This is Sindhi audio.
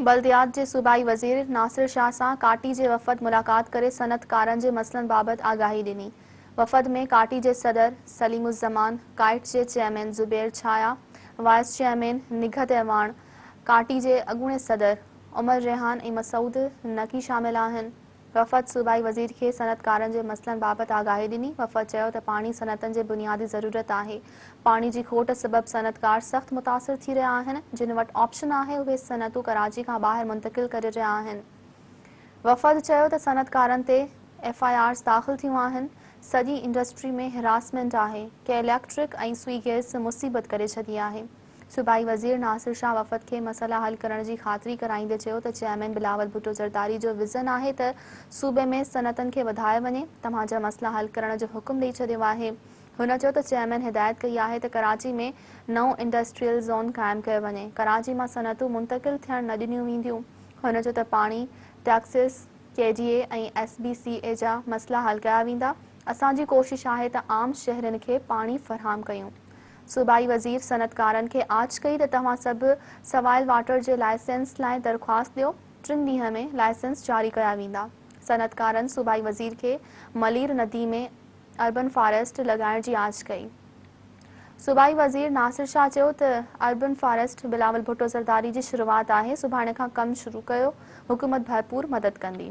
بلديات جي صوبائي وزير ناصر شاهه سان ڪاٽي جي وفد ملاقات ڪري صنعتڪارن جي مسئلن بابت آگاهي ڏني. وفد ۾ ڪاٽي جي صدر سليم الزمان، ڪائٽس جي chairman Zubair Chhaya, vice chairman Nighat Awan, KATI جي اڳوڻي صدر عمر ريحان ۽ مسعود نقي شامل آهن. وفد صوبائي وزير کي صنعتڪارن جي مسئلن بابت آگاهي ڏني، وفد چيو ته پاڻي صنعتن جي بنيادي ضرورت آهي، پاڻي جي کوٽ سبب صنعتڪار سخت متاثر ٿي رهيا آهن، جن وٽ آپشن آهي اهي صنعتون ڪراچي کان ٻاهر منتقل ڪري رهيا آهن، وفد چيو ته صنعتڪارن تي ايف آء آرز داخل ٿيون آهن، سڄي انڊسٽري ۾ هراسمينٽ آهي، ڪي اليڪٽرڪ ۽ سوئي گيس مصيبت ڪري ڇڏي آهي. صوبائي وزير ناصر شاهه وفد کي مسئلا حل ڪرڻ جي خاطري ڪرائيندي چيو ته چيئرمين بلاول ڀٽو زرداري جو وزن آهي ته صوبي ۾ صنعتن کي وڌايو وڃي، توهان جا مسئلا حل ڪرڻ جو حڪم ڏئي ڇڏيو آهي. هن چيو ته چيئرمين هدايت ڪئي آهي ته ڪراچي ۾ نئون انڊسٽريل زون قائم ڪيو وڃي، ڪراچي مان صنعتون منتقل ٿيڻ نه ڏنيون وينديون. هن چيو ته پاڻي، taxes, K D A ۽ S B C A جا مسئلا حل ڪيا ويندا، اسان جي ڪوشش آهي ته عام شهرين کي پاڻي فراهم ڪيون، صوبائي وزير صنعتڪارن کي آڇ ڪئي ته توهان سڀ سوائل واٽر جي لائسنس لاء درخواست ڏيو، ٽن ڏينهن ۾ لائسنس جاري ڪيا ويندا. صنعتڪارن صوبائي وزير کي ملير ندي ۾ اربن فاريسٽ لڳائڻ جي آڇ ڪئي. صوبائي وزير ناصر شاهه چيو ته اربن فاريسٽ بلاول ڀٽو زرداري جي شروعات آهي، سڀاڻي کان ڪم شروع ڪيو، حڪومت ڀرپور مدد ڪندي.